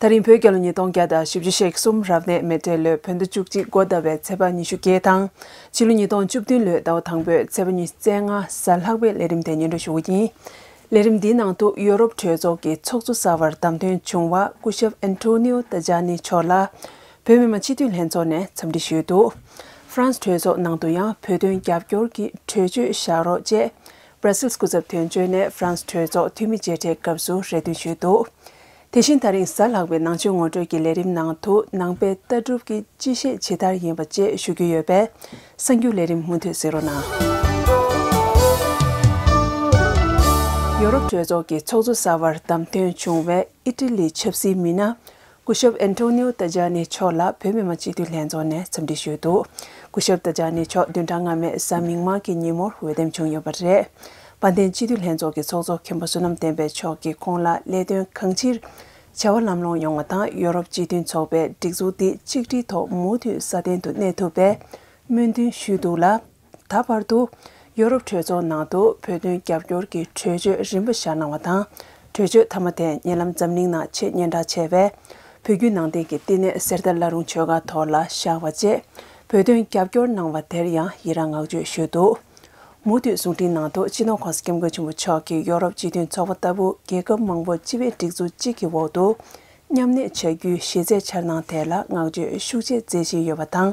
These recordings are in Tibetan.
ད་རིང་བོད་རྒྱལ་ལོ་ཉིས་སྟོང་བརྒྱ་དང་བཞི་བཅུ་ཞེ་གསུམ་རབ་གནས་མེ་སྤྲེལ་ལོའི་བོད་ཟླ་བཅུ་གཅིག་མགོ་ཟླ་བའི་ཚེས་པ་ཉི་ཤུ་བརྒྱད་དང། ཕྱི་ལོ་ཉིས་སྟོང་བཅུ་བདུན་ལོའི་ཟླ་བ་དང་པོའི་ཚེས་པ་ཉི་བརྩེགས་ལྔ་གཟའ་ལྷག་པའི་ལས་རིམ་དེ་སྙན་སྒྲོན་ཞུ་བ་ཡིན། ལས་རིམ་འདིའི་ནང་དུ་ཡོ་རོབ་གྲོས་ཚོགས་ཀྱི་ཚོགས་གཙོ་གསར་བར་བདམས་ཐོན་བྱུང་བ་སྐུ་ཞབས་ཨན་ཏོ་ནེའོ་ཏཱ་ཇཱ་ནི་མཆོག་ལ་བོད་མི་མང་སྤྱི་འཐུས་ལྷན་ཚོགས་ནས་འཚམས་འདྲི་ཞུས་འདུག་ཧྥ་རན་སི་གྲོས་ཚོགས་ནང་དུ་ཡང་བོད་དོན་རྒྱབ་སྐྱོར་གྱི་གྲོས་ཆོད་བཞག་རོགས་ཅེས Brussels སྐུ་ཚབ་དོན་གཅོད་ནས་ཧྥ་རན་སི་གྲོས་ཚོགས་འཐུས་མི་མཇལ་འཕྲད་སྐབས་སུ་རེ་འདུན་ཞུས་འདུག་དེ་བཞིན་ད་རིང་གཟའ་ལྷག་པའི་ནང་ཆོས་ངོ་སྤྲོད་ཀྱི་ལས་རིམ་ནང་དུ་ནང་པའི་ལྟ་གྲུབ་ཀྱི་སྤྱི་བཤད་ཇི་ལྟར་ཡིན་པ་བཅས་ཞུ་རྒྱུ་ཡོད་པས་གསར་འགྱུར་ལས་རིམ་མུ་མཐུད་བཟོས་རོགས་གནང། ཡོ་རོབ་གྲོས་ཚོགས་ཀྱི་ཚོགས་གཙོ་གསར་བར་བདམས་ཐོན་བྱུང་བའི་ཨི་ཏི་ལིའི་ཆབ་སྲིད་མི་སྣ་སྐུ་ཞབས་ཨན་ཏོ་ནེའོ་ཏཱ་ཇཱ་ནེ་མཆོག་ལ་བོད་མི་མང་སྤྱི་འཐུས་ལྷན་ཚོགས་ནས་འཚམས་འདྲི་ཞུས་འདུག་སྐུ་ཞབས་ཏཱ་ཇཱ་ནེ་མཆོག་བདུན་ཕྲག་སྔ་མའི་གཟའ་མིག་དམར་གྱི་ཉིན་མོར་འོས་འདེམས་བྱུང་ཡོད་པ་རེད། དཔལ་ལྡན་སྤྱི་འཐུས་ལྷན་ཚོགས་ཀྱི་ཚོགས་གཙོ་མཁན་པོ་བསོད་ནམས་བསྟན་པའི་མཆོག་གིས་ཁོང་ལ་ལས་དོན་གང་ཅིར་བྱ་བ་ལམ་ལྷོང་ཡོང་བ་དང་ཡོ་རོབ་སྤྱི་མཐུན་ཚོགས་པའི་སྒྲིག་འཛུགས་འདི་གཅིག་སྒྲིལ་ཐོག་མུ་མཐུད་སྲ་བརྟན་དུ་གནས་ཐུབ་པའི་སྨོན་འདུན་ཞུས་འདུག་ལ། ད་བར་དུ་ཡོ་རོབ་གྲོས་ཚོགས་ནང་དུ་བོད་དོན་རྒྱབ་སྐྱོར་གྱི་གྲོས་ཆོད་རིམ་པ་བཞག་གནང་བ་དང་གྲོས་ཆོད་མཐའ་མ་དེ་ཉེ་ལམ་འཛམ་གླིང་ནང་ཆེས་སྙན་གྲགས་ཆེ་བའི་བོད་བརྒྱུད་ནང་བསྟན་གྱི་བསྟི་གནས་གསེར་རྟ་བླ་རུང་ཆོས་སྒར་ཐོག་ལ་བཞག་པ་བཅས་བོད་དོན་རྒྱབ་སྐྱོར་གནང་བ་དེར་ཡང་ཡི་རང་བསྔགས་བརྗོད་ཞུས་འདུག་མུ་མཐུད་གསུང་འཕྲིན་ནང་དུ་སྤྱི་ནོར་ཁོང་སྐྱབས་མགོན་ཆེན་པོ་མཆོག་གིས་ཡོ་རོབ་སྤྱི་མཐུན་ཚོགས་པ་ལྟ་བུ་རྒྱལ་ཁབ་མང་པོ་སྤྱི་བའི་སྒྲིག་འཛུགས་གཅིག་གི་འོག་ཏུ་མཉམ་གནས་བྱ་རྒྱུའི་གཞི་རྩའི་འཆར་སྣང་ཐད་ལ་བསྔགས་བརྗོད་ཤུགས་ཆེ་མཛད་བཞིན་ཡོད་པ་དང་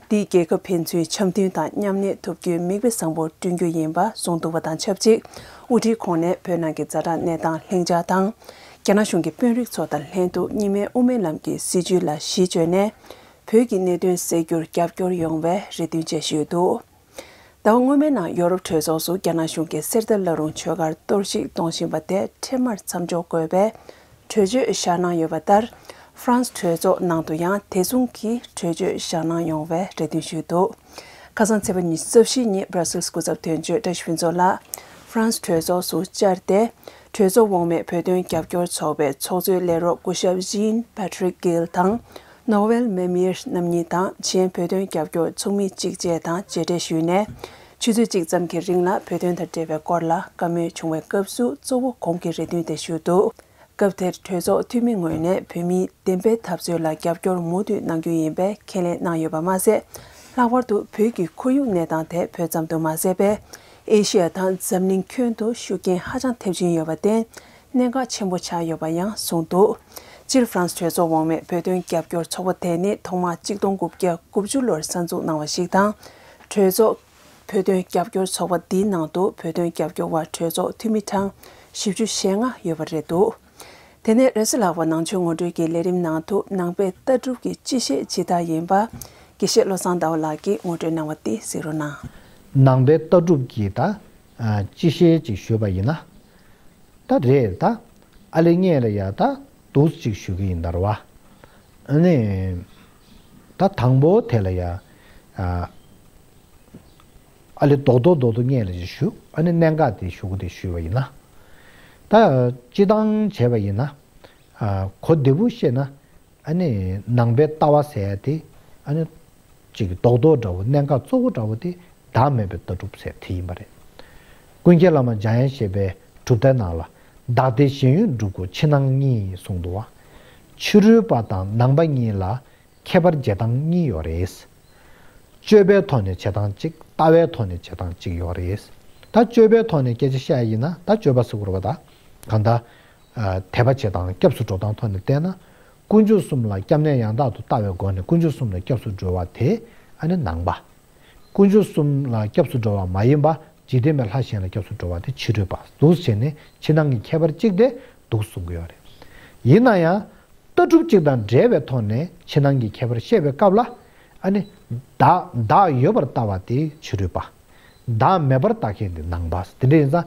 འདིས་རྒྱལ་ཁབ་ཕན་ཚུན་འཆམ་མཐུན་དང་མཉམ་གནས་ཐུབ་རྒྱུའི་མིག་དཔེ་བཟང་པོ་བསྐྲུན་རྒྱུ་ཡིན་པ་གསུངས་འདུག་པ་དང་ཆབས་ཅིག་དབུ་ཁྲིད་ཁོང་ནས་བོད་ནང་གི་རྫ་དྲག་གནས་སྟངས་ལྷིང་འཇགས་དང། རྒྱ་ནག་གཞུང་གི་དཔོན་རིགས་ཚོ་དང་ལྷན་དུ་གཉིས་སྨན་དབུ་མའི་ལམ་གྱི་སྲིད་བྱུས་ལ་གཞི་བཅོལ་ནས་བོད་ཀྱི་གནད་དོན་སེལ་རྒྱུར་རྒྱབ་སྐྱོར་ཡོང་བའི་རེ་འདུན་བཅས་ཞུས་འདུག། ཟླ་བ་སྔོན་མའི་ནང་ཡོ་རོབ་གྲོས་ཚོགས་སུ་རྒྱ་ནག་གཞུང་གིས་གསེར་རྟ་བླ་རུང་ཆོས་སྒར་གཏོར་བཤིག་གཏོང་བཞིན་པ་དེ་འཕྲལ་མར་མཚམས་འཇོག་དགོས་པའི་གྲོས་ཆོད་བཞག་གནང་ཡོད་པ་ལྟར་ཧྥ་རན་སི་གྲོས་ཚོགས་ནང་དུ་ཡང་དེ་མཚུངས་ཀྱི་གྲོས་ཆོད་བཞག་གནང་ཡོང་བའི་རེ་འདུན་ཞུས་འདུག་ཁ་སང་ཚེས་པ་ཉིན་རྩ་བཞི་ཉིན་སྦྲ་སིལ་སྐུ་ཚབ་དོན་གཅོད་ཀྲ་ཤིན་ཛོ་ལགས་ཧྥ་རན་སི་གྲོས་ཚོགས་སུ་བཅར་ཏེ་གྲོས་ཚོགས་འོག་མའི་བོད་དོན་རྒྱབ་སྐྱོར་ཚོགས་པའི་ཚོགས་གཙོའི་ལས་རོགས་སྐུ་ཞབས་ཇིན་པ་ཐྲིག་གིལ་དང Noel Mamir རྣམ་གཉིས་དང་གཞན་བོད་དོན་རྒྱབ་སྐྱོར་ཚོགས་མི་གཅིག་བཅས་དང་མཇལ་འཕྲད་ཞུས་ནས། ཆུ་ཚོད་གཅིག་ཙམ་གྱི་རིང་ལ་བོད་དོན་དང་འབྲེལ་བའི་སྐོར་ལ་བཀའ་མོལ་བྱུང་བའི་སྐབས་སུ་གཙོ་བོ་གོང་གི་རེ་འདུན་དེ་ཞུས་འདུག་སྐབས་དེར་གྲོས་ཚོགས་འཐུས་མི་ངོས་ནས་བོད་མིའི་བདེན་པའི་འཐབ་རྩོད་ལ་རྒྱབ་སྐྱོར་མུ་མཐུད་གནང་རྒྱུ་ཡིན་པའི་ཁས་ལེན་གནང་ཡོད་པ་མ་ཟད། ལྷག་པར་དུ་བོད་ཀྱི་ཁོར་ཡུག་གནས་སྟངས་དེ་བོད་ཙམ་དུ་མ་ཟད་པའི་ཨེ་ཤི་ཡ་དང་འཛམ་གླིང་ཁྱོན་དུ་ཤུགས་རྐྱེན་ཧ་ཅང་ཐེབས་ཀྱིན་ཡོད་པར་བརྟེན་གནད་འགག་ཆེན་པོ་ཆགས་ཡོད་པ་ཡང་གསུངས་འདུག་སྤྱིར་ཧྥ་རན་སི་གྲོས་ཚོགས་འོག་མའི་བོད་དོན་རྒྱབ་སྐྱོར་ཚོགས་པ་དེ་ནི་ཐོག་མ་གཅིག་སྟོང་དགུ་བརྒྱ་དགུ་བཅུ་ལོར་གསར་འཛུགས་གནང་བ་ཞིག་དང། གྲོས་ཚོགས། བོད་དོན་རྒྱབ་སྐྱོར་ཚོགས་པ་འདིའི་ནང་དུ་བོད་དོན་རྒྱབ་སྐྱོར་བ་གྲོས་ཚོགས་འཐུས་མི་གྲངས་བཞི་བཅུ་ཞེ་ལྔ་ཡོད་པ་རེད་འདུག་དེ་ནས་རེས་ལག་པ་ནང་ཆོས་ངོ་སྤྲོད་ཀྱི་ལས་རིམ་ནང་དུ་ནང་པའི་ལྟ་གྲུབ་ཀྱི་སྤྱི་བཤད་ཇི་ལྟར་ཡིན་པ་དགེ་བཤེས་བློ་བཟང་ཟླ་བ་ལགས་ཀྱིས་ངོ་སྤྲོད་གནང་བ་འདི་གཟིགས་རོགས་གནང། ནང་པའི་ལྟ་གྲུབ་ཀྱི་ད་ཅི་བཤད་ཅིག་ཞུས་པ་ཡིན་ན། ད་རེད་ད། ཨ་ལེ་ངས་ལ་ཡ་ད་དུས་ཅིག་ཞུ་གི་ཡིན་ད་རོ་བ། ཨ་ནེ། ད་དང་པོ་དེ་ལ་ཡ། ཨ་ལེ་རྡོག་རྡོག་རྡོག་རྡོག་ངས་ལ་ཅིག་ཞུ་ཨ་ནེ་གནད་འགག་དེ་ཞུ་གི་འདུག་ཞུས་པ་ཡིན་ན། ད་ཅི་སྟངས་བྱས་པ་ཡིན་ན། གོ་བདེ་པོ་བཤད་ན། ཨ་ནི་ནང་པའི་ལྟ་བ་ཟེར་ཡ་དེ་ཨ་ནི། ཅིག་རྡོག་རྡོག་འདྲ་བོ་གནད་འགག་གཙོ་བོ་འདྲ་བོ་དེ་བདག་མེད་པའི་ལྟ་གྲུབ་ཟེར་དེ་ཡིན་པ་རེད། ཀུན་མཁྱེན་བླ་མ་འཇམ་དབྱངས་བཞད་པའི་གྲུབ་མཐའི་ནང་ལ། བདག་ལྟའི་གཞན་ཡུལ་འགྲུབ་གོ་ཕྱི་ནང་གཉིས་གསུངས་འདུག་བ། ཕྱི་རོལ་པ་དང་ནང་པ་གཉིས་ལ་ཁྱད་པར་བྱེད་སྟངས་གཉིས་ཡོད་རེད། སྤྱོད་པའི་ཐོག་ནས་བྱེད་སྟངས་གཅིག་ལྟ་བའི་ཐོག་ནས་བྱེད་སྟངས་གཅིག་ཡོད་རེད། ད་སྤྱོད་པའི་ཐོག་ནས་སྐད་ཆ་བཤད་ཡ་ཡིན་ན་ད་སྤྱོད་པ་ཟེར་དགོས་རེད་པ་ད། གང་ལྟ། དད་པ་བྱེད་དང་སྐྱབས་སུ་འགྲོ་སྟངས་ཐོག་ནས་བལྟས་ན། དཀོན་མཆོག་གསུམ་ལ་སྐྱབས་གནས་ཡང་དག་ཏུ་ལྟ་བའི་སྒོ་ནས་དཀོན་མཆོག་གསུམ་ལ་སྐྱབས་སུ་འགྲོ་བ་དེ་ནི་ནང་པ། དཀོན་མཆོག་གསུམ་ལ་སྐྱབས་སུ་འགྲོ་བ་མ་ཡིན་པ་འཇིག་རྟེན་པའི་ལྷ་གཞན་ལ་སྐྱབས་སུ་འགྲོ་བ་དེ་ཕྱི་རོལ་པ་གཟུགས་བྱས་ནས་ཕྱི་ནང་གི་ཁྱད་པར་གཅིག་སྟེ་འདུག་གསུང་གི་ཡོད་རེད། ཡིན་ན་ཡང། ལྟ་གྲུབ་གཅིག་དང་འབྲེལ་བའི་ཐོག་ནས་ཕྱི་ནང་གི་ཁྱད་པར་བཤད་པའི་སྐབས་ལ། བདག་ཡོད་པར་ལྟ་བ་དེ་ཕྱི་རོལ་པ། བདག་མེད་པར་ལྟ་མཁན་དེ་ནང་པ། དེ་འདྲ་ཡིན་ཙང་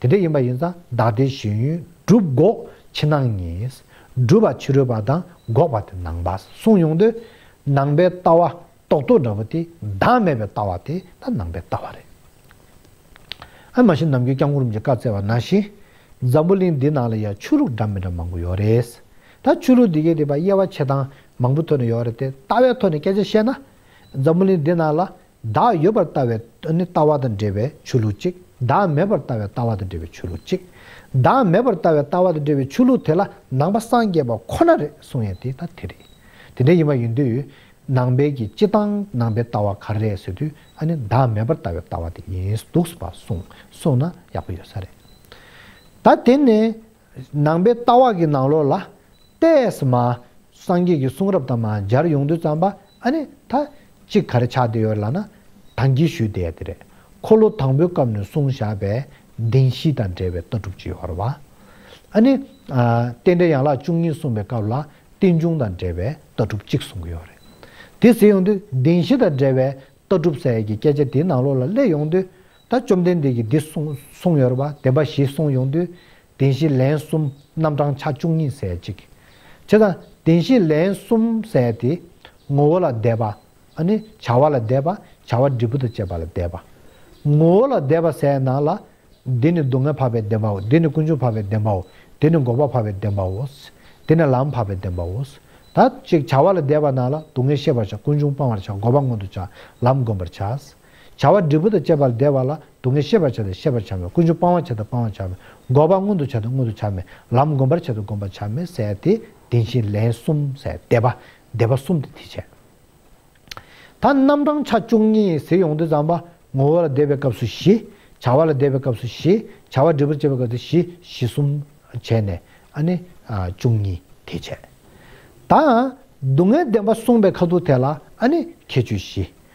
དེ་འདྲ་ཡིན་པ་ཡིན་ཙང་བདག་ལྟའི་གཞོན་ཡུལ་སྒྲུབ་འགོག་ཕྱི་ནང་གཉིས། སྒྲུབ་པ་ཕྱི་རོལ་པ་དང་འགོག་པ་དེ་ནང་པ་གསུངས་ཡོང་དུས། ནང་པའི་ལྟ་བ་རྟོག་ཏུ་འདྲ་བོ་དེ་བདག་མེད་པའི་ལྟ་བ་དེ་ད་ནང་པའི་ལྟ་བ་རེད། ཨ་མ་ཞིག་ནམ་རྒྱུན་སྐྱབས་འཁོར་རིམ་གྱིས་བཀའ་བསྩལ་བ་ན་བཞིན། འཛམ་བུ་གླིང་འདི་ནང་ལ་ཡང་ཆོས་ལུགས་འདྲ་མི་འདྲ་མང་པོ་ཡོད་རེད། ད་ཆོས་ལུགས་འདི་གའི་རིག་པ་དབྱེ་བ་ཕྱེ་སྟངས་མང་པོ་ཐོན་ནས་ཡོད་རེད་དེ་ལྟ་བའི་ཐོག་ནས་སྐད་ཆ་བཤད་ན། འཛམ་བུ་གླིང་འདི་ནང་ལ་བདག་ཡོད་པར་ལྟ་བའི་ལྟ་བ་དང་འབྲེལ་བའི་ཆོས་ལུགས་གཅིག་བདག་མེད་པར་ལྟ་བའི་ལྟ་བ་དང་འབྲེལ་བའི་ཆོས་ལུགས་གཅིག་བདག་མེད་པར་ལྟ་བའི་ལྟ་བ་དང་འབྲེལ་བའི་ཆོས་ལུགས་དེ་ལ་ནང་པ་སངས་རྒྱས་པ་ཁོ་ན་རེད་གསུངས་ཡས་དེ་ད་དེ་རེད། དེ་འདྲ་ཡིན་པ་ཡིན་དུས་ནང་པའི་གི་སྤྱི་བཏང་ནང་པའི་ལྟ་བ་ག་རེད་ཟེར་དུས་ཨ་ནི་བདག་མེད་པར་ལྟ་བའི་ལྟ་བ་དེ་ཡིན་འདུག་བ་གསུངས་གསུངས་ན་ཡག་པོ་ཡོད་ས་རེད། ད་དེ་ནས་ནང་པའི་ལྟ་བ་གི་ནང་ལོགས་ལ། ཏས་མ། སངས་རྒྱས་ཀྱི་གསུང་རབ་དང་མ་སྦྱར་ཡོངས་འདུས་བརྩམས་པ་ཨ་ནི་ད། གཅིག་གར་ཆགས་བསྡད་ཡོད་ལ་ན། དང་གྱིས་ཞུས་བསྡད་དེ་རེད། འཁོར་ལོ་དང་པོའི་སྐབས་ནས་གསུངས་བཞག་པས་བདེན་བཞི་དང་འབྲེལ་བའི་ལྟ་གྲུབ་ཅི་ཡོར་བ། ཨ་ནི། རྟེན་འབྲེལ་ཡན་ལག་བཅུ་གཉིས་གསུངས་པའི་སྐབས་ལ་རྟེན་འབྱུང་དང་འབྲེལ་བའི་ལྟ་གྲུབ་གཅིག་གསུངས་ཀྱི་ཡོད་རེད། དེ་ཟེར་ཡོང་དུས་བདེན་བཞི་དང་འབྲེལ་བའི་ལྟ་གྲུབ་ཟེར་ཡས་ཀྱི་སྐད་ཆ་དེའི་ནང་ལོགས་ལ་སླེབས་ཡོང་དུས། ད་བཅོམ་ལྡན་འདས་ཀྱིས་འདི་གསུངས་ཡོད་པ་བདེན་པ་བཞི་གསུངས་ཡོང་དུས་བདེན་བཞི་ལན་གསུམ་རྣམ་གྲངས་ཆ་བཅུ་གཉིས་ཟད་ཅིག། བྱས་ཙང་བདེན་བཞི་ལན་གསུམ་ཟད་དེ། ངོ་བོ་ལ་བཟླས་པ། ནི། བྱ་བ་ལ་བཟླས་པ། བྱ་བ་འབྲས་བུ་དང་བཅས་པ་ལ་བཟླས་པ། ངོ་བོ་ལ་བཟླས་པ་ཟད་ན་ལ། འདི་ནི་སྡུག་བསྔལ་འཕགས་པའི་བདེན་པའོ་འདི་ནི་ཀུན་འབྱུང་འཕགས་པའི་བདེན་པའོ་འདི་ནི་འགོག་པ་འཕགས་པའི་བདེན་པའོ། འདི་ནི་ལམ་འཕགས་པའི་བདེན་པའོ། ད་ཅིག་བྱ་བ་ལ་བཟླས་པ་ན་ལ་སྡུག་བསྔལ་ཤེས་པར་བྱ་ཀུན་འབྱུང་སྤང་བར་བྱ་འགོག་པ་མངོན་དུ་བྱ་ལམ་བསྒོམ་པར་བྱ། བྱ་བ་འབྲས་བུ་དང་བཅས་པ་ལ་བཟླས་པ་ལ་སྡུག་བསྔལ་ཤེས་པར་བྱ་སྟེ་ཤེས་པར་བྱ་མེད་ཀུན་འབྱུང་སྤང་བར་བྱ་སྟེ་སྤང་བར་བྱ་མེད་འགོག་པ་མངོན་དུ་བྱ་སྟེ་མངོན་དུ་བྱ་མེད་ལམ་བསྒོམ་པར་བྱ་སྟེ་བསྒོམ་པར་བྱ་མེད་གསལ་ཏེ་བདེན་བཞི་ལན་གསུམ་གསལ་བཟླས་པ་བཟླས་པ་གསུམ་དུ་དེ་བྱས། ད་རྣམ་གྲངས་ཆ་བཅུ་གཉིས་གཟིགས་ཡོངས་འདུས་ཙམ་པ། ངོ་བོ་ལ་བཟླས་པའི་སྐབས་སུ་བཞི། བྱ་བ་ལ་བཟླས་པའི་སྐབས་སུ་བཞི། བྱ་བ་འབྲས་བུར་བཅས་པའི་སྐབས་སུ་བཞི་བཞི་གསུམ་བྱས་ནས་ནི། བཅུ་གཉིས་དེ་བྱས། ད་སྡུག་བསྔལ་བདེན་པ་གསུངས་པའི་ཁ་ཐུག་དེ་ལ་ནི་ཁྱད་ཆོས་བཞི།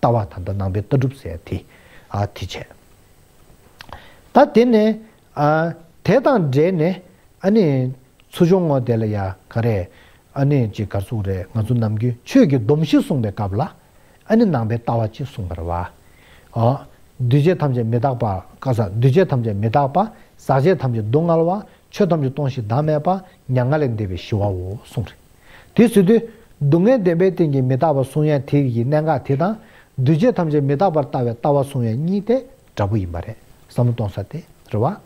ལྟ་བ་དང་དུ་སྣང་བའི་ལྟ་གྲུབ་ཟད་དེ་དེ་བྱས། ད་དེ་ནས་དེ་དང་འབྲེལ་ནས་ཚུར་བྱུང་ངོ་དེ་ལ་ཡ་ག་རེ་གྱི་གར་སོང་རེད་ང་ཚོ་ནམ་རྒྱུན་ཆོས་ཀྱི་སྡོམ་བཞི་གསུངས་པའི་སྐབས་ལ་ནང་པའི་ལྟ་བ་གཅིག་གསུངས་པར་བ། འདུས་བྱས་ཐམས་ཅད་མི་རྟག་པ་ཀ་ཟག་འདུས་བྱས་ཐམས་ཅད་མི་རྟག་པ་ཟག་བཅས་ཐམས་ཅད་སྡུག་བསྔལ་བ་ཆོས་ཐམས་ཅད་སྟོང་ཞིང་བདག་མེད་པ་མྱ་ངན་ལས་འདས་པའི་ཞི་བའོ་གསུངས་རེད། དེ་སུ་དེ། སྡུག་བསྔལ་བདེན་པའི་སྟེང་གི་མི་རྟག་པ་གསུང་ཡན་དེ་ཡི་གནད་འགག་དེ་དང། འདུས་བྱས་ཐམས་ཅད་མི་རྟག་པར་ལྟ་བའི་ལྟ་བ་གསུང་ཡན་གཉིས་དེ་འདྲ་པོ་ཡིན་པ་རེད་བསམ་བློ་གཏོང་ས་དེ་རེད་བ།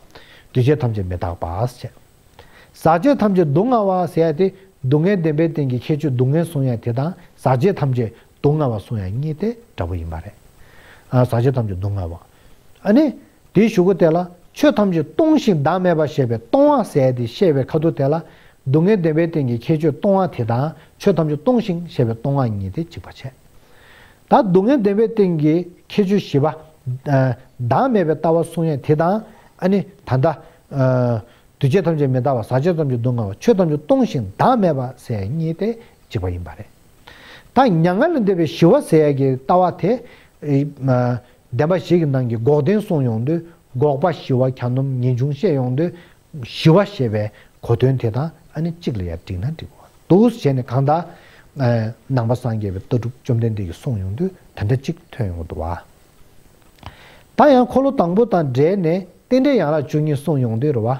འདུས་བྱས་ཐམས་ཅད་མི་རྟག་པས་བྱས། ཟག་བཅས་ཐམས་ཅད་སྡུག་བསྔལ་བ་ཟེར་ཡ་དེ་སྡུག་བསྔལ་བདེན་པའི་སྟེང་གི་ཁྱད་ཆོས་སྡུག་བསྔལ་གསུང་ཡན་དེ་དང་ཟག་བཅས་ཐམས་ཅད་སྡུག་བསྔལ་བ་གསུང་ཡན་གཉིས་དེ་འདྲ་པོ་ཡིན་པ་རེད། ཟག་བཅས་ཐམས་ཅད་སྡུག་བསྔལ་བ། ཨ་ནི། དེའི་གཞུག་གུ་དེ་ལ་ཆོས་ཐམས་ཅད་སྟོང་ཞིང་བདག་མེད་པར་ཤེས་པའི་སྟོང་བ་ཟད་དེ་ཤེས་པའི་ཁ་ཐུག་དེ་ལ་སྡུག་བསྔལ་བདེན་པའི་སྟེང་གི་ཁྱད་ཆོས་སྟོང་བ་དེ་དང་ཆོས་ཐམས་ཅད་སྟོང་ཞིང་ཤེས་པའི་སྟོང་བ་གཉིས་དེ་གཅིག་པར་བྱས། ད་སྡུག་བསྔལ་བདེན་པའི་སྟེང་གི་ཁྱད་ཆོས་བཞི་པ། བདག་མེད་པའི་ལྟ་བ་གསུང་ཡས་དེ་དང། ནི། ད་ལྟ། འདུས་བྱས་ཐམས་ཅད་མི་རྟག་པ་ཟག་བཅས་ཐམས་ཅད་སྡུག་བསྔལ་བ་ཆོས་ཐམས་ཅད་སྟོང་ཞིང་བདག་མེད་པ་ཟད་གཉིས་དེ་གཅིག་པ་ཡིན་པ་རེད། ད་མྱ་ངན་ལས་འདས་པའི་ཞི་བ་ཟད་ཀྱི་ལྟ་བ་དེ། བདེན་པ་ཞིག་གི་ནང་གི་འགོག་བདེན་གསུངས་ཡོང་དུས་འགོག་པ་ཞི་བ་གྱ་ནོམ་ངེས་འབྱུང་བཤད་ཡོང་དུས་ཞི་བ་ཞེས་པའི་གོ་དོན་དེ་དང་ཨ་ནི་གཅིག་ལ་ཡར་བསྒྲིགས་ན་འགྲིག་པོ་འདུག་གཞན་ནི་གང་དག་ནང་པ་སངས་རྒྱས་པའི་ལྟ་གྲུབ་བཅོམ་ལྡན་འདས་ཀྱིས་གསུངས་ཡོང་དུས་དེ་འདྲ་གཅིག་ཐོན་ཡོང་གི་འདུག་བ། ད་ཡང་འཁོར་ལོ་དང་པོ་དང་སྦྲེལ་ནས་རྟེན་འབྲེལ་ཡང་རགས་བཅུ་གཉིས་གསུངས་ཡོང་དུས་རེ་བ།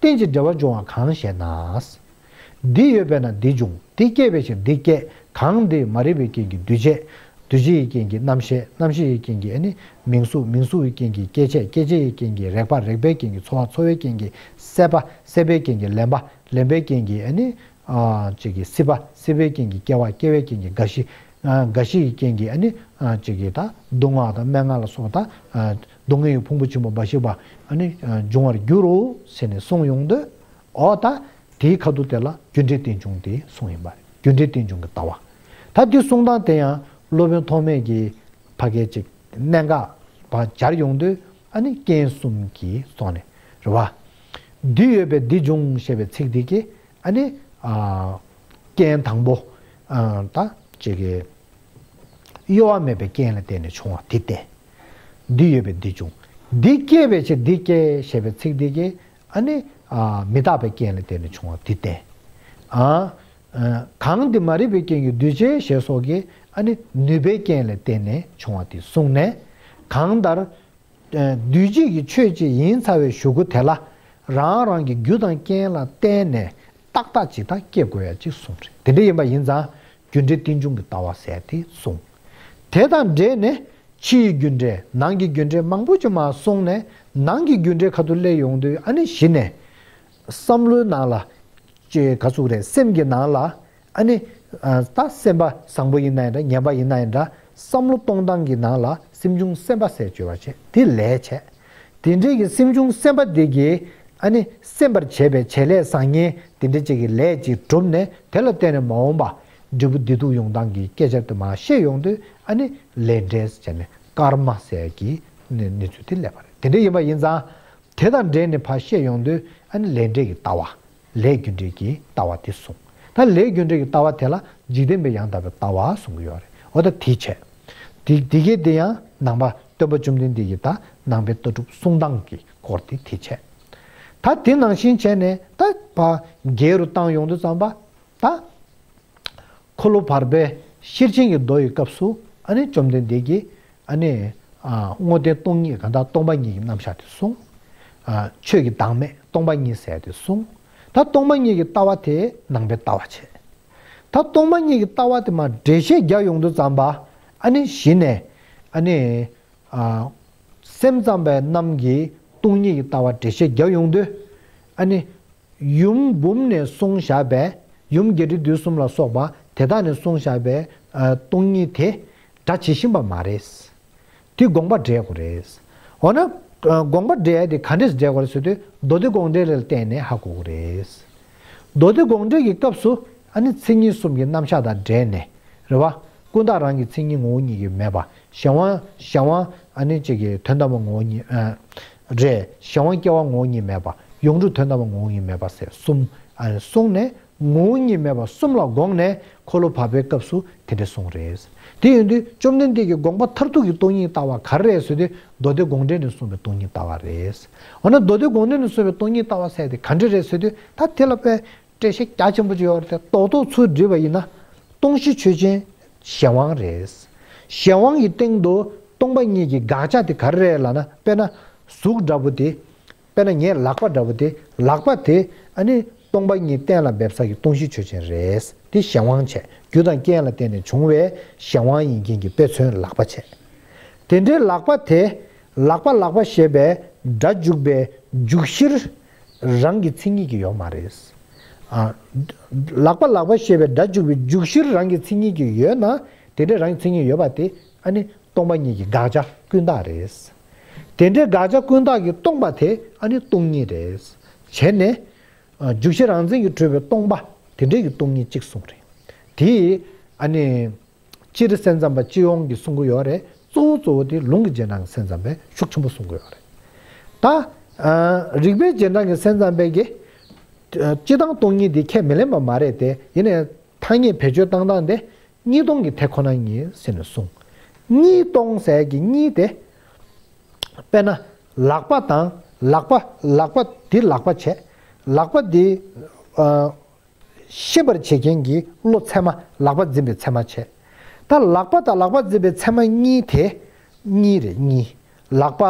རྟེན་ཅིང་འབྲེལ་བར་འབྱུང་བ་གང་ཞེ་ན། འདི་ཡོད་པས་ན་འདི་འབྱུང་འདི་སྐྱེས་པའི་ཕྱིར་འདི་སྐྱེ་གང་འདི་མ་རིག་པའི་རྐྱེན་གྱིས་འདུས་བྱས། འདུས་བྱས་ཡི་རྐྱེན་གྱིས་རྣམ་ཤེས་རྣམ་ཤེས་ཡི་རྐྱེན་གྱིས་མིང་གཟུགས་མིང་གཟུགས་ཡི་རྐྱེན་གྱིས་སྐྱེ་མཆེད་སྐྱེ་མཆེད་ཡི་རྐྱེན་གྱིས་རེག་པ་རེག་པའི་རྐྱེན་གྱིས་ཚོར་བ་ཚོར་བའི་རྐྱེན་གྱིས་སྲེད་པ་སྲེད་པའི་རྐྱེན་གྱིས་ལེན་པ་ལེན་པའི་རྐྱེན་གྱིས་སྲིད་པ་སྲིད་པའི་རྐྱེན་གྱིས་སྐྱེ་བ་སྐྱེ་བའི་རྐྱེན་གྱིས་རྒ་ཤི་རྒ་ཤི་ཡི་རྐྱེན་གྱིས་སྡུག་བསྔལ་དང་སྨྲེ་སྔགས་ལ་སོགས་དང། སྡུག་བསྔལ་གྱི་ཕུང་པོ་ཆེན་པོ་འབའ་ཞིག་པནི་འབྱུང་བར་འགྱུར་རོ་ཟེར་ནས་གསུངས་ཡོང་དུས། འོ་ད། དེའི་ཁ་ཐུག་དེ་ལ་རྒྱུ་འབྲས་རྟེན་འབྱུང་དེའི་གསུངས་ཡིན་པ་རེད་རྒྱུ་འབྲས་རྟེན་འབྱུང་གི་ལྟ་བ། ད་འདི་གསུངས་སྟངས་དེ་ཡང་སློབ་དཔོན་ཐོགས་མེད་ཀྱིས་ཕ་སྐད་ཅིག་གནད་འགག་པ་སྦྱར་ཡོང་དུས་ཨནི་རྐྱེན་གསུམ་གྱིས་སོགས་ནས་རེད་བ། འདི་ཡོད་པས་འདི་འབྱུང་ཞེས་པའི་ཚིག་འདི་གིས་ཨནི། རྐྱེན་དང་པོ། ད། གཡོ་བ་མེད་པའི་རྐྱེན་ལ་བརྟེན་ནས་བྱུང་བ་དེ་བསྟན། འདི་ཡོད་པས་འདི་འབྱུང། འདི་སྐྱེས་པའི་ཕྱིར་འདི་སྐྱེ་ཞེས་པའི་ཚིག་འདི་ཀྱིས་ནི། མི་རྟག་པའི་རྐྱེན་ལས་དེ་ནི་བྱུང་བ་འདི་བསྟན། གང་འདི་མ་རིག་པའི་རྐྱེན་གྱིས་འདུས་བྱས་ཞེས་སོགས་ཀྱིས་ནི་ནུས་པའི་རྐྱེན་ལས་བརྟེན་ནས་བྱུང་བ་འདི་གསུངས་ནས། གང་ལྟར། འདུས་བྱས་ཀྱི་ཆོས་ཅི་ཡིན་ཚ་བའི་གཞུག་གུ་དེ་ལ། རང་རང་གི་རྒྱུ་དང་རྐྱེན་ལ་བརྟེན་ནས་ཏག་ཏག་ཇི་ལྟར་སྐྱེ་དགོས་ཡ་གཅིག་གསུངས། དེ་འདྲ་ཡིན་པ་ཡིན་ཙང་རྒྱུ་འབྲས་རྟེན་འབྱུང་གི་ལྟ་བ་བསལ་ཏེ་གསུངས། དེ་དང་འབྲེལ་ནས་ཕྱི་ཡི་རྒྱུ་འབྲས་ནང་གི་རྒྱུ་འབྲས་མང་པོ་ཅི་མ་གསུངས་ནས་ནང་གི་རྒྱུ་འབྲས་ག་དུ་སླེབས་ཡོང་དུས་ཨ་ནི་གཞི་ནས། བསམ་བློའི་ནང་ལ། ཅེས་ག་ཚུགས་རེད་སེམས་ཀྱི་ནང་ལ། ཨ་ནི། ད་སེམས་པ་བཟང་པོ་ཡིན་ན་ཡིན་འདྲ་ངན་པ་ཡིན་ན་ཡིན་འདྲ་བསམ་བློ་གཏོང་སྟངས་ཀྱི་ནང་ལ་སེམས་བྱུང་སེམས་པ་བསལ་བཅོས་བར་བྱེད་དེ་ལས་བྱེད། དེ་འབྲེལ་གྱི་སེམས་བྱུང་སེམས་དཔའ་དེ་གྱིས་ཨ་ནི་སེམས་པར་བྱེད་པའི་བྱེད་ལས་བཟང་ངན་དེ་འདྲ་ཅིག་གི་ལས་ཅིག་གྲུབ་ནས་དེ་ལ་བརྟེན་ནས་མ་འོངས་པ་འབྲས་བུ་བདེ་སྡུག་ཡོང་སྟངས་ཀྱི་སྐད་ཆ་དུ་མ་བཤད་ཡོང་དུས་ཨ་ནི་ལས་འབྲས་བྱས་ནས་ཀརྨ་སལ་གྱི་གནས་ཚུལ་དེ་སླེབས་པ་རེད་དེ་འདྲ་ཡིན་པ་ཡིན་ཙང་དེ་དང་འབྲེལ་ནས་ཕ་བཤད་ཡོང་དུས་ཨ་ནི་ལས་འབྲས་ཀྱི་ལྟ་བ། ལས་རྒྱུ་འབྲས་ཀྱི་ལྟ་བ་དེ་གསུངས། ད་ལས་རྒྱུ་འབྲས་ཀྱི་ལྟ་བ་དེ་ལ་འཇིག་རྟེན་པའི་ཡང་དག་པའི་ལྟ་བ་གསུང་གི་ཡོད་རེད། འོ་ད་དེའི་ཆ། དེ་དེ་གས་དེ་ཡང་ནང་པ་སྟོན་པ་བཅོམ་ལྡན་འདས་ཀྱི་ད་ནང་པའི་ལྟ་གྲུབ་གསུང་སྟངས་ཀྱི་སྐོར་དེ་དེའི་ཆ། ད་དེ་ནང་བཞིན་བྱས་ནས་ད་བ་རྒྱལ་རུ་བཏང་ཡོང་དུ་བརྩམས་པ། ད། འཁོར་ལོ་བར་པའི་ཤེར་ཕྱིན་གྱི་མདོ་ཡི་སྐབས་སུ་ཨ་ནི་བཅོམ་ལྡན་འདས་ཀྱིས་ཨ་ནི། བསྔོ་ལྡན་སྟོང་ཉིད་གང་དག་སྟོང་པ་ཉིད་ཀྱི་རྣམ་བཞག་དེ་གསུངས། ཆོས་ཀྱི་བདག་མེད་སྟོང་པ་ཉིད་ཟད་དེ་གསུངས། ད་སྟོང་པ་ཉིད་ཀྱི་ལྟ་བ་དེས་ནང་པའི་ལྟ་བ་བྱས། ད་སྟོང་པ་ཉིད་ཀྱི་ལྟ་བ་དེ་མ་འདྲེས་བཤད་རྒྱ་ཡོངས་དུ་བརྩམས་པ། ཨ་ནི་གཞི་ནས། ཨ་ནི། སེམས་ཙམ་པའི་རྣམས་ཀྱིས་སྟོང་ཉིད་ཀྱི་ལྟ་བ་འདྲེས་བཤད་རྒྱ་ཡོངས་དུ། ཨ་ནི། ཡུམ་འབུམ་ནས་གསུང་བཞག་པས་ཡུམ་བརྒྱད་ཁྲི་བདུན་གསུམ་ལ་སོགས་པ་དེ་དག་ནས་གསུང་བཞག་པའི་སྟོང་ཉིད་དེ་སྒྲ་ཇི་བཞིན་པ་མ་རེད། དེ་དགོངས་པ་འགྲེལ་དགོས་རེད། འོ་ན། དགོངས་པ་འགྲེལ་དེ་ག་འདྲས་འགྲེལ་དགོས་རེད་ཟེར་དུས་མདོ་སྡེ་དགོངས་འགྲེལ་ལ་བརྟེན་ནས་ཧ་གོ་དགོས་རེད། མདོ་སྡེ་དགོངས་འགྲེལ་གྱི་སྐབས་སུ་ཨཱ་ནི་མཚན་ཉིད་གསུམ་གྱི་རྣམ་གཞག་དང་འབྲེལ་ནས་རེད་བ། ཀུན་བརྟགས་རང་གི་མཚན་ཉིད་ངོ་བོ་ཉིད་ཀྱིས་མེད་པ་གཞན་དབང་གཞན་དབང་ཨཱ་ནི་བཅས་ཀྱི་དོན་དམ་པ་ངོ་བོ་ཉིད། རེད། གཞན་དབང་སྐྱེ་བ་ངོ་བོ་ཉིད་མེད་པ། ཡོངས་གྲུབ་དོན་དམ་པ་ངོ་བོ་ཉིད་མེད་པ། ཟེར་གསུམ། གསུངས་ནས། ངོ་བོ་ཉིད་མེད་པ་གསུམ་ལ་དགོངས་ནས་འཁོར་ལོ་བར་པའི་སྐབས་སུ་དེ་འདྲ་གསུངས་རེད། དེ་ཡོད་དུས་བཅོམ་ལྡན་འདས་ཀྱི་དགོངས་པ་མཐར་ཐུག་གི་སྟོང་ཉིད་ལྟ་བ་གར་རེད་ཟེར་དུས་མདོ་སྡེ་དགོངས་འགྲེལ་ནས་གསུངས་པའི་སྟོང་ཉིད་ལྟ་བ་རེད། འོ་ན་མདོ་སྡེ་དགོངས་འགྲེལ་ནས་གསུངས་པའི་སྟོང་ཉིད་ལྟ་བ་ཟེར་དེ་ག་འདྲ་རེད་ཟེར་དུས་ད་དེ་ལ་དཔེ་བཀྲ་ཤིས་རྒྱ་ཆེན་པོ་བཅོལ་བར་ཐལ། རྟོགས་རྟོགས་ཚུལ་བསྒྲིལ་བ་ཡིན་ན། སྟོང་གཞི་ཆོས་ཅན་གཞན་དབང་རེད། གཞན་དབང་གི་སྟེང་དུ་སྟོང་པ་གཉིས་ཀྱི་དགག་བྱ་དེ་ག་རེ་རེད་ལ་ན་དཔེར་ན་གཟུགས་འདྲ་བོ་དེ། དཔེར་ན་ངའི་ལག་པ་འདྲ་བོ་དེ་ལག་པ་དེ་ནི་སྟོང་པ་གཉིས་གཏན་ལ་འབེབས་ས་ཀྱི་སྟོང་གཞི་ཆོས་ཅན་རེད། དེ་གཞན་དབང་བྱས་རྒྱུ་དང་རྐྱེན་ལ་བརྟེན་ནས་བྱུང་བའི་གཞན་དབང་ཡིན་རྐྱེན་གྱི་དཔེ་མཚོན་ལག་པ་བྱས། དེ་འདྲའི་ལག་པ་དེ་ལག་པ་ལག་པ་ཞེས་པའི་སྒྲ་འཇུག་པའི་འཇུག་གཞིར་རང་གི་མཚན་ཉིད་ཀྱི་ཡོག་མ་རེད། ལག་པ་ལག་པ་ཞེས་པའི་སྒྲ་འཇུག་པའི་འཇུག་གཞིར་རང་གི་མཚན་ཉིད་ཀྱི་ཡོད་ན་དེ་འདྲའི་རང་གི་མཚན་ཉིད་ཡོད་པ་དེ་ཨ་ནི་སྟོང་པ་ཉིད་ཀྱི་དགག་བྱ་ཀུན་བཏགས་རེད། དེ་འདྲའི་དགག་བྱ་ཀུན་བཏགས་ཀྱི་སྟོང་པ་དེ་ཨ་ནི་སྟོང་ཉིད་རེད། བྱས་ནས། འཇུག་གཞི་རང་མཚན་གྱིས་གྲུབ་པའི་སྟོང་པ་དེ་འདྲའི་ཀྱི་སྟོང་ཉིད་གཅིག་གསུངས་རེད། དེས་ཨ་ནི། སྤྱིར་སེམས་ཙམ་པ་སྤྱི་ཡོངས་ཀྱི་སྲུང་གི་ཡོད་རེད་གཙོ་བོ་གཙོ་བོ་དེ་ལུང་གི་རྗེས་འབྲང་གི་སེམས་ཙམ་པས་ཤུགས་ཆེན་པོ་སྲུང་གི་ཡོད་རེད་ད། རིགས་པའི་རྗེས་འབྲང་གི་སེམས་ཙམ་པས་ཀྱི། སྤྱི་དང་སྟོང་ཉིད་དེ་ཁས་མི་ལེན་པ་མ་རེད་དེ་ཡིན་ནའི་ཐ་སྙད་བེད་སྤྱོད་བཏང་སྟངས་དེ་གཉིས་སྟོང་གི་དེ་ཁོ་ན་ཉིད་ཟེར་ནས་གསུངས། གཉིས་སྟོང་ཟེར་གྱི་གཉིས་དེ། དཔེར་ན། ལག་པ་དང་ལག་པ་ལག་པ་འདི་ལག་པ་བྱས། ལག་པ་འདི། ཤེས་པར་བྱེད་མཁན་གྱི་བློ་ཚད་མ་ལག་པ་འཛིན་པའི་ཚད་མ་བྱེད། ད་ལག་པ་དང་ལག་པ་འཛིན་པའི་ཚད་མ་གཉིས་དེ། གཉིས་རེད་གཉིས། ལག་པ།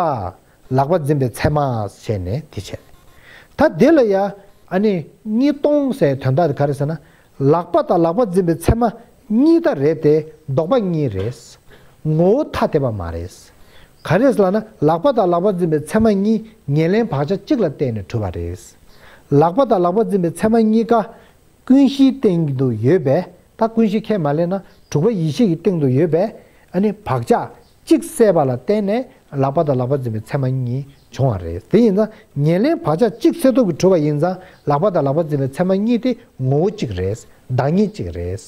ལག་པ་འཛིན་པའི་ཚད་མ། བྱས་ནས་དེ་བྱེད། ད་དེ་ལ་ཡ། ཨ་ནི། གཉིས་སྟོང་ཟེར་དོན་དག་ག་རེད་ཟེར་ན། ལག་པ་དང་ལག་པ་འཛིན་པའི་ཚད་མ། གཉིས་ད་རེད་དེ་ལྡོག་པ་གཉིས་རེད། ངོ་བོ་ཐ་དད་པ་མ་རེད། ག་རེས་ལགས་ན་ལག་པ་དང་ལག་པ་འཛིན་པའི་མཚན་མ་གཉིས་ཉེར་ལེན་བག་ཆགས་གཅིག་ལ་བརྟེན་ནས་གྲུབ་པ་རེད། ལག་པ་དང་ལག་པ་འཛིན་པའི་མཚན་མ་གཉིས་ཀ་ཀུན་གཞིའི་སྟེང་དུ་ཡོད་པས་ད་ཀུན་གཞི་ཁས་མ་ལེན་ན་དྲུག་པ་ཡིད་ཤེས་ཀྱི་སྟེང་དུ་ཡོད་པས་ནི་བག་ཆགས་གཅིག་བསལ་བ་ལ་བརྟེན་ནས་ལག་པ་དང་ལག་པ་འཛིན་པའི་མཚན་མ་གཉིས་བྱུང་བ་རེད། དེ་ཡིན་ཙང་ཉེར་ལེན་བག་ཆགས་གཅིག་བསལ་སྟོབས་ཀྱིས་གྲུབ་པ་ཡིན་ཙང་ལག་པ་དང་ལག་པ་འཛིན་པའི་མཚན་མ་གཉིས་དེ་ངོ་བོ་གཅིག་རེད་བདག་ཉིད་གཅིག་རེད།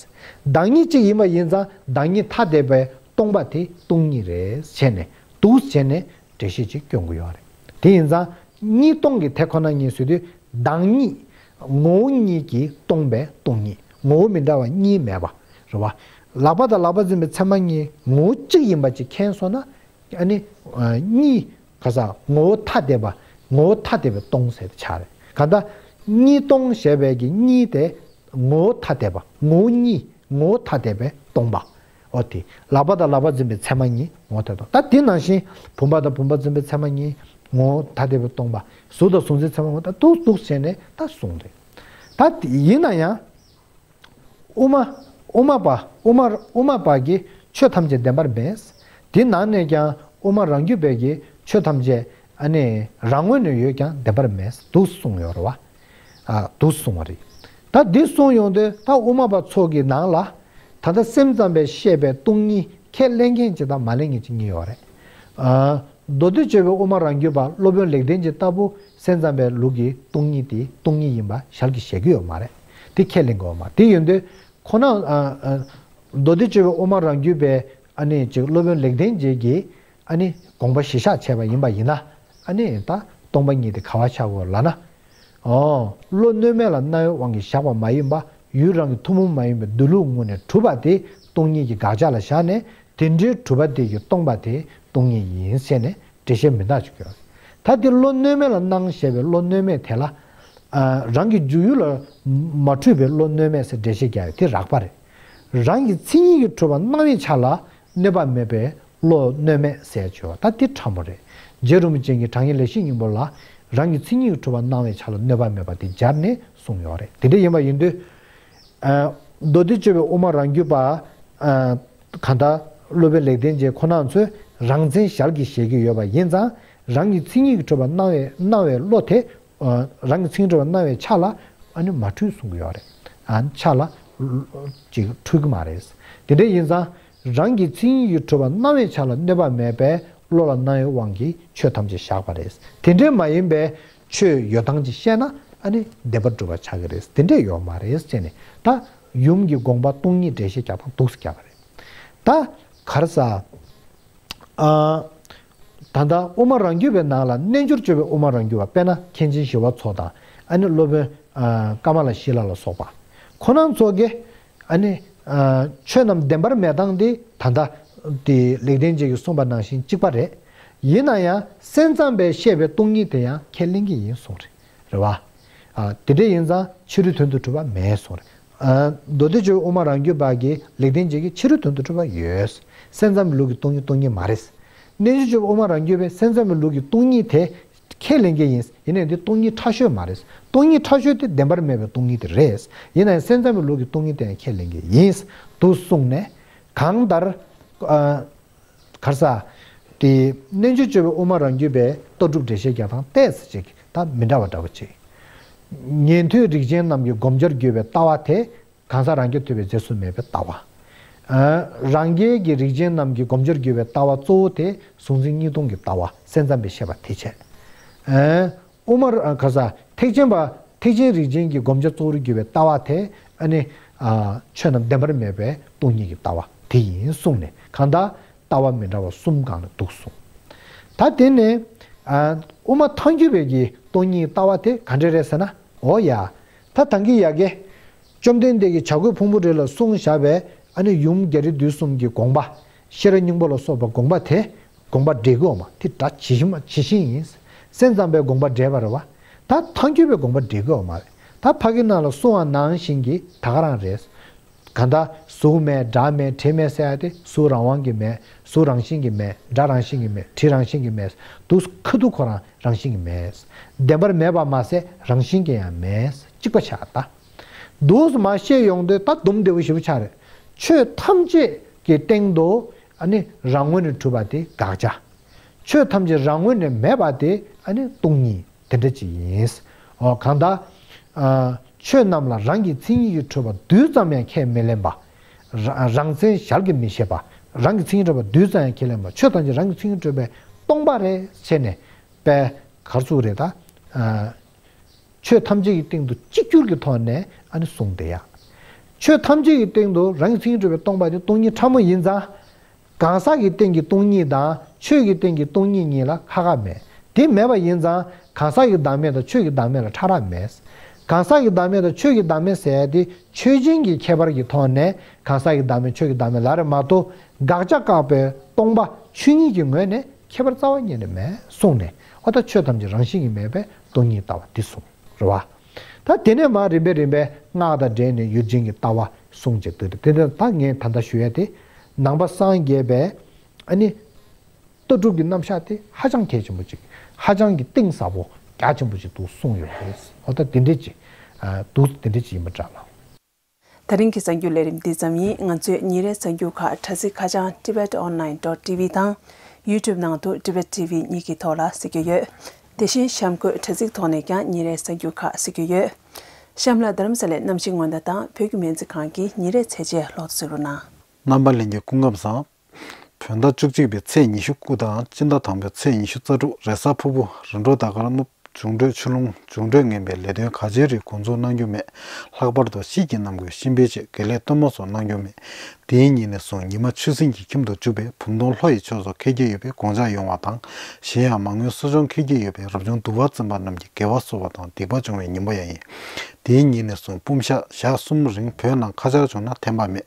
བདག་ཉིད་གཅིག་ཡིན་པ་ཡིན་ཙང་བདག་ཉིད་ཐ་དད་པའི་སྟོང་པ་དེ་སྟོང་ཉིད་རེད་བྱས་ནས་འདུག་བྱས་ནས་འགྲེལ་བཤད་ཅིག་སྐྱོན་གོ་ཡོད་རེད་དེ་ཡིན་ཙང་གཉིས་སྟོང་གི་དེ་ཁོ་ན་ཉིད་སུ་དུས་བདག་ཉིད་ངོ་བོ་ཉིད་ཀྱིས་སྟོང་པའི་སྟོང་ཉིད་ངོ་བོ་མི་འདྲ་བ་གཉིས་མེད་པ་རེད་བ། ལག་པ་དང་ལག་པ་འཛིན་པའི་ཚད་མ་གཉིས་ངོ་བོ་གཅིག་ཡིན་པ་ཅིག་མཁྱེན་སོང་ན་ནི། གཉིས་ག་ས་ངོ་བོ་ཐ་དད་པ་ངོ་བོ་ཐ་དད་པའི་སྟོང་ཟེར་བར་བྱ་རེད་ག་ད་གཉིས་སྟོང་ཞེས་པའི་གཉིས་དེ་ངོ་བོ་ཐ་དད་པ་ངོ་བོ་གཉིས་ངོ་བོ་ཐ་དད་པའི་སྟོང་པ། ཨོ་དེ། ལག་པ་དང་ལག་པ་འཛིན་པའི་མཚན་མ་གཉིས་ངོ་བོ་ཐལ་སྟོང། ད་དེ་ནང་བཞིན། བུམ་པ་དང་བུམ་པ་འཛིན་པའི་མཚན་མ་གཉིས་ངོ་བོ་ཐ་དད་པའི་སྟོང་པ། གཟུགས་དང་གཟུགས་འཛིན་མཚན་མ་ངོ་ད་དུག་གཟུགས་བྱས་ནས་ད་གཟུང་རེད། ད་དེ་ཡིན་ན་ཡང། དབུ་མ། དབུ་མ་པ། དབུ་མ། དབུ་མ་པ་གིས་ཆོས་ཐམས་ཅད་བདེན་པར་འབེངས། དེ་ནང་ནས་ཀྱང་དབུ་མ་རང་རྒྱུད་པས་ཀྱིས་ཆོས་ཐམས་ཅད། ཨ་ནི། རང་ངོས་ནས་ཡོད་ཀྱང་བདེན་པར་མེད་དུ་གསུངས་ཡོད་རེད་བ། དུ་སོང་བ་རེད། ད་འདི་སོང་ཡོང་དུས་ད་དབུ་མ་པ་ཚོ་གི་ནང་ལ། ད་ལྟ་སེམས་ཙམ་པས་བཤད་པའི་སྟོང་ཉིད་ཁས་ལེན་མཁན་གཅིག་དང་མ་ལེན་མཁན་གཅིག་གཉིས་ཡོད་རེད། མདོ་སྟོད་ཆོས་པའི་དབུ་མ་རང་རྒྱུད་པ་སློབ་དཔོན་ལེགས་ལྡན་གྱི་ལྟ་བུ་སེམས་ཙམ་པའི་ལུགས་ཀྱི་སྟོང་ཉིད་དེ་སྟོང་ཉིད་ཡིན་པ་ཞར་གྱི་བཤད་ཀྱི་ཡོད་མ་རེད། དེ་ཁས་ལེན་དགོས་བ་མ་རེད། དེ་ཡོད་དུས་ཁོ་ན། མདོ་སྟོད་ཆོས་པའི་དབུ་མ་རང་རྒྱུད་པའི་ཨ་ནེ་གཅིག་སློབ་དཔོན་ལེགས་ལྡན་རྗེས་ཀྱི་ཨ་ནི་དགོངས་པ་བཞི་ཤག་བྱས་པ་ཡིན་པ་ཡིན་ན་ཨ་ནི་ད་སྟོང་པ་ཉིད་དེ་ག་བ་ཆགས་གོ་ལ་ན། འོ། བློ་གནོད་མེད་ལ་རྣ་བའི་དབང་གིས་བཞག་པ་མ་ཡིན་པ་ཡུལ་རང་གི་ཐུན་མོང་མ་ཡིན་པའི་སྡོད་ལུགས་ངོ་ནས་གྲུབ་པ་དེ་སྟོང་ཉིད་ཀྱི་དགག་བྱ་ལ་བཞག་ནས་དེ་འདྲའི་གྲུབ་པ་དེ་ཡུལ་སྟོང་པ་དེ་སྟོང་ཉིད་ཡིན་ཟེར་ནས་འགྲེལ་བཤད་མི་གདགས་ཆོག་གི། ད་དེ་བློ་གནོད་མེད་ལ་སྣང་ཞེས་པའི་བློ་གནོད་མེད་དེ་ལ། རང་གི་འཇུག་ཡུལ་ལ་མ་འཁྲུལ་པའི་བློ་གནོད་མེད་ཟེར་འགྲེལ་བཤད་རྒྱག་ཡོད་དེ་རགས་པ་རེད། རང་གི་མཚན་ཉིད་ཀྱི་འཁྲུལ་བ་སྣང་བའི་ཆ་ལ་གནོད་པ་མེད་པའི་བློ་གནོད་མེད་བསལ་བྱོས་ད་འདི་ཕྲ་མོ་རེད། རྗེ་རིན་པོ་ཆེ་ངས་དྲང་ངེས་ལས་བྱེད་སྙིང་པོ་ལ་རང་གི་ཚིག་སྙིང་གྲུབ་པ་གནང་བའི་ཆ་ལ་གནོད་པ་མེད་པ་དེ་སྦྱར་ནས་གསུངས་ཡོད་རེད་དེ་འདྲ་ཡིན་པ་ཡིན་དུས། མདོ་སྡེ་སྤྱོད་པའི་དབུ་མ་རང་རྒྱུད་པ། གང་ལྟར་སློབ་དཔོན་ལེགས་ལྡན་འབྱེད་ཁོ་ན་ཚོས་རང་མཚན་ཞར་གྱིས་བཞེད་ཀྱི་ཡོད་པ་ཡིན་ཙང་རང་གི་ཚིག་སྙིང་གྲུབ་པ་གནང་བའི་བློ་དེ་རང་གི་ཚིག་འབྲེལ་བ་སྣང་བའི་ཆ་ལ། མ་འཁྲུལ་གསུང་གི་ཡོད་རེད། ཆ་ལ། འཁྲུལ་གི་མ་རེད། དེ་འདྲ་ཡིན་ཙང། རང་གི་ཚིག་ཡིན་ཡུལ་འཁྲུལ་བ་སྣང་བའི་ཆ་ལ་གནོད་པ་མེད་པས་བློ་ལ་སྣང་བའི་དབང་གིས་ཆོས་ཐམས་ཅད་བཞག་པ་རེད། དེ་འདྲས་མ་ཡིན་པའི། ཆོས་ཡོད་སྟངས་ཀྱིས་བཤད་ན། བདེན་པར་སྒྲུབ་པར་བྱ་གི་རེད་དེ་འདྲས་ཡོད་མ་རེད་ཅེས་ནས། ད། ཡུམ་གྱི་དགོངས་པ་སྟོང་ཉིད་འགྲེལ་བཤད་རྒྱག་སྟངས་སྡུགས་སུ་བསྐྱལ་བ་རེད། ད། གར་ས། ད་ལྟ་དབུ་མ་རང་རྒྱུད་པའི་ནང་ལ་རྣལ་འབྱོར་སྤྱོད་པའི་དབུ་མ་རང་རྒྱུད་པ་དཔལ་ནཱ་མཁན་ཆེན་ཞི་བ་འཚོ་དང་ཨ་ནི་སློབ་དཔོན་ཀ་མ་ལ་ཤི་ལ་ལ་སོགས་པ་ཁོ་ན་འཚོ་གི་ཨ་ནི། ཆོས་རྣམས་བདེན་པར་མེད་སྟངས་དེ་ད་ལྟ། ལེགས་ལྡན་འབྱེད་ཀྱི་གསུངས་པ་ནང་བཞིན་གཅིག་པ་རེད། ཡིན་ན་ཡང་སེམས་ཙམ་པས་བཤད་པའི་སྟོང་ཉིད་དེ་ཡང་ཁས་ལེན་གྱི་ཡིན་གསུངས། རེད་བ། དེ་འདྲ་ཡིན་ཙང་ཕྱི་རོལ་དོན་དུ་གྲུབ་པ་མེད་གསུངས། མདོ་སྡེ་ཆོས་དབུ་མ་རང་རྒྱུད་བར་གྱི་ལེགས་ལྡན་འབྱེད་ཀྱི་ཕྱི་རོལ་དོན་དུ་གྲུབ་པ་ཡོད། སེམས་ཙམ་པའི་ལུགས་ཀྱི་སྟོང་ཉིད་སྟོང་ཉིད་མ་རེད། རྣལ་འབྱོར་ཆོས་དབུ་མ་རང་རྒྱུད་པས་སེམས་ཙམ་པའི་ལུགས་ཀྱི་སྟོང་ཉིད་དེ་ཁས་ལེན་མཁན་ཡིན། ཡིན་ནའང་དེ་སྟོང་ཉིད་ཕྲ་ཤོས་མ་རེད། སྟོང་ཉིད་ཕྲ་ཤོས་དེ་བདེན་པར་མེད་པའི་སྟོང་ཉིད་དེ་རེད། ཡིན་ནའང་སེམས་ཙམ་པའི་ལུགས་ཀྱི་སྟོང་ཉིད་དེའང་ཁས་ལེན་མཁན་ཡིན། དུ་གསུངས་ནས། གང་ལྟར། གར་ས། དེ། རྣལ་འབྱོར་སྤྱོད་པའི་དབུ་མ་རང་རྒྱུད་པའི་རྟོགས་གྲུབ་འགྲེལ་བཤད་རྒྱག་སྟངས་ལྟས་སུ་བྱས་ཀྱི་དང་མི་འདྲ་བ་འདྲ་བོ་བྱས། ཉན་ཐོས་རིགས་ཅན་རྣམས་ཀྱི་བསྒོམ་བྱར་གྱུར་པའི་ལྟ་བ་དེ། གང་ཟག་རང་རྒྱུད་ཐོས་པའི་རྫས་སུ་མེད་པའི་ལྟ་བ། རང་རྒྱལ་གྱི་རིགས་ཅན་རྣམས་ཀྱི་བསྒོམ་བྱར་གྱུར་པའི་ལྟ་བ་གཙོ་བོ་དེ་གཟུང་འཛིན་གཉིས་སྟོང་གི་ལྟ་བ་གསལ་བརྩམས་པའི་བཤད་པ་དེ་བྱས། ཨུ་མར་ཨལ་ཁ་ཟ། ཐེག་ཆེན་པ། ཐེག་ཆེན་རིགས་ཅན་གྱི་བསྒོམ་བྱ་གཙོ་བོར་གྱུར་པའི་ལྟ་བ་དེ་ནི། ཆོས་རྣམས་བདེན་པར་མེད་པའི་སྟོང་ཉིད་ཀྱི་ལྟ་བ་དེ་ཡིན་གསུངས་ནས་གང་དག་ལྟ་བ་མི་འདྲ་བ་གསུམ་བཀག་ནས་འདུག་གསུངས། ད་དེ་ནས། ཨུ་མ་ཐང་གྱུར་པའི་གྱི་སྟོང་ཉིད་ཀྱི་ལྟ་བ་དེ་ག་འདྲས་རེད་ཟེར་ན། འོ་ཡ། ད་དང་གི་ཡ་གི། བཅོམ་ལྡན་འདས་ཀྱིས་བྱ་རྒོད་ཕུང་པོ་རེ་ལ་གསུང་བཞག་པའི་ཨ་ནི་ཡུམ་རྒྱ་རི་དུས་གསུམ་གྱི་དགོངས་པ། ཤེས་རབ་སྙིང་པོ་ལ་སོགས་པ་དགོངས་པ་དེ། དགོངས་པ་འགྲེལ་དགོས་མ་དེ་སྒྲ་ཇི་བཞིན་མ་ཇི་བཞིན་ཡིན། སེམས་ཙམ་པའི་དགོངས་པ་འགྲེལ་པར་བ། ད་ཐ་འཁྱོལ་པའི་དགོངས་པ་འགྲེལ་དགོས་མ། ད་བྷ་གི་ནང་ལ་སུ་འང་ནང་བཞིན་གྱི་ད་ག་རང་རེད། གང་ད་གཟུགས་མེད་སྒྲ་མེད་དྲི་མེད་སེ་ཨ་ཏི་གཟུགས་རང་དབང་གི་མེད་གཟུགས་རང་བཞིན་གྱི་མེད་སྒྲ་རང་བཞིན་གྱི་མེད་དྲི་རང་བཞིན་གྱི་མེད་དུག་ཁ་དུག་ཁོ་རང་རང་བཞིན་གྱི་མེད། བདེན་པར་མེད་པར་མ་ཟད་རང་བཞིན་གྱི་ཡང་མེད་གཅིག་པ་ཆགས། ད་དུག་མ་ཤེས་ཡོང་དུས་ད་དུམ་འབྲས་བུ་བཞི་པོ་ཆགས་རེད། ཆོས་ཐམས་ཅད་ཀྱི་སྟེང་དུ་ནི་རང་ངོས་ནས་གྲུབ་པ་དེ་དགག་བྱ། ཆོས་ཐམས་ཅད་རང་ངོས་ནས་མེད་པ་དེ་ནི་སྟོང་ཉིད་དེ་འདྲ་ཅིག་ཡིན། གང་དག། ཆོས་རྣམས་ལ་རང་གི་མཚན་ཉིད་ཀྱི་འཕྲོས་པ་རྡུལ་ཙམ་ཡང་ཁས་མི་ལེན་པ། རང་མཚན་ཞར་གྱིས་མི་ཤེས་པ། རང་གི་མཚན་ཉིད་འཕྲོས་པ་རྡུལ་ཙམ་ཡང་ཁས་ལེན་པ་ཆོས་ཐམས་ཅད་རང་གི་མཚན་ཉིད་འཕྲོས་པས་སྟོང་པ་རེད་ཟེར་ནས་པའི་གར་ཚུགས་རེད་ད། ཆོས་ཐམས་ཅད་ཀྱི་སྟེང་དུ་གཅིག་གྱུར་གྱི་ཐོག་ནས་ཨ་ནི་གསུངས་ཏེ། ཆོས་ཐམས་ཅད་ཀྱི་སྟེང་དུ་རང་གི་མཚན་ཉིད་སྤྲོས་པའི་སྟོང་པ་ནི་སྟོང་ཉིད་ཕྲ་མོ་ཡིན་ཙང། གང་ཟག་གི་སྟེང་གི་སྟོང་ཉིད་དང་ཆོས་ཀྱི་སྟེང་གི་སྟོང་ཉིད་གཉིས་ལ་ཁ་ཁ་མེད་དེ་མེད་པ་ཡིན་ཙང་གང་ཟག་གི་བདག་མེད་དང་ཆོས་ཀྱི་བདག་མེད་ལ་ཕྲ་རགས་མེད། གང་ཟག་གི་བདག་མེད་དང་ཆོས་ཀྱི་བདག་མེད་ཟད་དེ་ཆོས་ཅན་གྱི་ཁྱད་པར་གྱི་ཐོག་ནས་གང་ཟག་གི་བདག་མེད་ཆོས་ཀྱི་བདག་མེད་ལ་རེ་མ་ཏོ་དགག་བྱ་བཀག་པའི་སྟོང་པ་ཆོས་ཉིད་ཀྱི་ངོས་ནས་ཁྱད་པར་རྩ་བ་གཉིས་ནི་མེད་གསུངས་ནས་ཨོ་ད་ཆོས་ཐམས་ཅད་རང་བཞིན་གྱིས་མེད་པའི་སྟོང་ཉིད་ལྟ་བ་འདི་གསུངས་རོ། བ་ད་དེ་ནས་མ་རིམ་པས་རིམ་པས་སྔགས་དང་སྦྲེལ་ནས་ཡུལ་ཅན་གྱི་ལྟ་བ་གསུངས་ཅེས་འདོད་དེ་དེ་དག་ངས་ད་ལྟ་ཞུ་ཡ་སྟེ། ནང་པ་སངས་རྒྱས་པའི་ནི། ལྟ་གྲུབ་ཀྱི་རྣམ་གཞག་དེ་ཧ་ཅང་གལ་ཆེན་པོ་ཅིག་ཧ་ཅང་གི་གཏིང་ཟབ་པོ་རྒྱ་ཆེན་པོ་ཅིག་འདུག་གསུངས་ཡོད་པ་རེད། ཨོ་ད་དེ་འདྲེ་ཅི། འདུག་དེ་འདྲེ་ཅི་ཡིན་པ་འདྲ་ལ། ད་རིང་གི་གསར་འགྱུར་ལས་རིམ་འདི་ཙམ་ཡིན་ང་ཚོས་ཉིན་རེའི་གསར་འགྱུར་ཁག་དྲ་ཚིགས་ཁ་བྱང TibetOnline.TV དང YouTube ནང་དུ Tibet TV གཉིས་ཀྱི་ཐོག་ལ་གཟིགས་རྒྱུ་ཡོད། དེ་བཞིན་གཤམ་འཁོད་དྲ་ཚིགས་ཐོག་ནས་ཀྱང་ཉིན་རེའི་གསར་འགྱུར་ཁག་གཟིགས་རྒྱུ་ཡོད། གཤམ་ལ་དྷརྨ་ས་ལའི་གནམ་གཤིས་སྔོན་བརྡ་དང་བོད་ཀྱི་སྨན་རྩིས་ཁང་གི་ཉིན་རེའི་ཚད་འཇལ་ལོག་འཚོལ་རུ་སྣང། རྣམ་པ་གླིང་གི་སྐུ་ངབ་བཟང། བོད་ཟླ་བཅུ་གཅིག་པའི་ཚེས་ཉི་ཤུ་དགུ་དང་དཔྱིད་ཟླ་དང་པོའི་ཚེས་ཉི་ཤུ་རྩ་དྲུག་རེས་གཟའ་ཕུར་བུ་རི་འབྲོག་ཟླ་གར་གནུབས་འབྱུང་འཕྲོད་ཆུ་ཀླུང་འབྱུང་འཕྲོད་ངན་པའི་ལས་དོན་ག་ཅིའི་རིགས་འགོ་འཛུགས་གནང་རྒྱུ་མེད། ལྷག་པར་དུ་ཤིས་ཀྱི་ནམ་གུས་གཤིན་སྤེལ་བཅས་དགེ་ལས་གཏོར་མ་སོགས་གནང་རྒྱུ་མེད། དེའི་ཉིན་ནས་བཟུང་ཉི་མ་ཆུ་སྲིན་གྱི་ཁྱིམ་དུ་འཇུག་པའི་བུམ་སྡོང་ལྷོ་ཡི་ཕྱོགས་སུ་འཁེལ་གྱི་ཡོད་པའི་དགོངས་འཇགས་ཡོང་བ་དང། གཞན་ཡང་མ་དངུལ་གསོ་སྦྱོང་འཁེལ་གྱི་ཡོད་པའི་རབ་བྱུང་དུ་བ་འཛིན་པ་རྣམས་ཀྱི་དགེ་བ་གསོ་བ་དང་སྡིག་པ་སྦྱོང་བའི་ཉིན་མོ་ཡང་ཡིན། དེའི་ཉིན་ནས་བཟུང་སྤུམ་ཤ་ཞག་གསུམ་རིང་བོད་ནང་ཁ་ཆར་བྱུང་ན་ཐན་པ་མེད།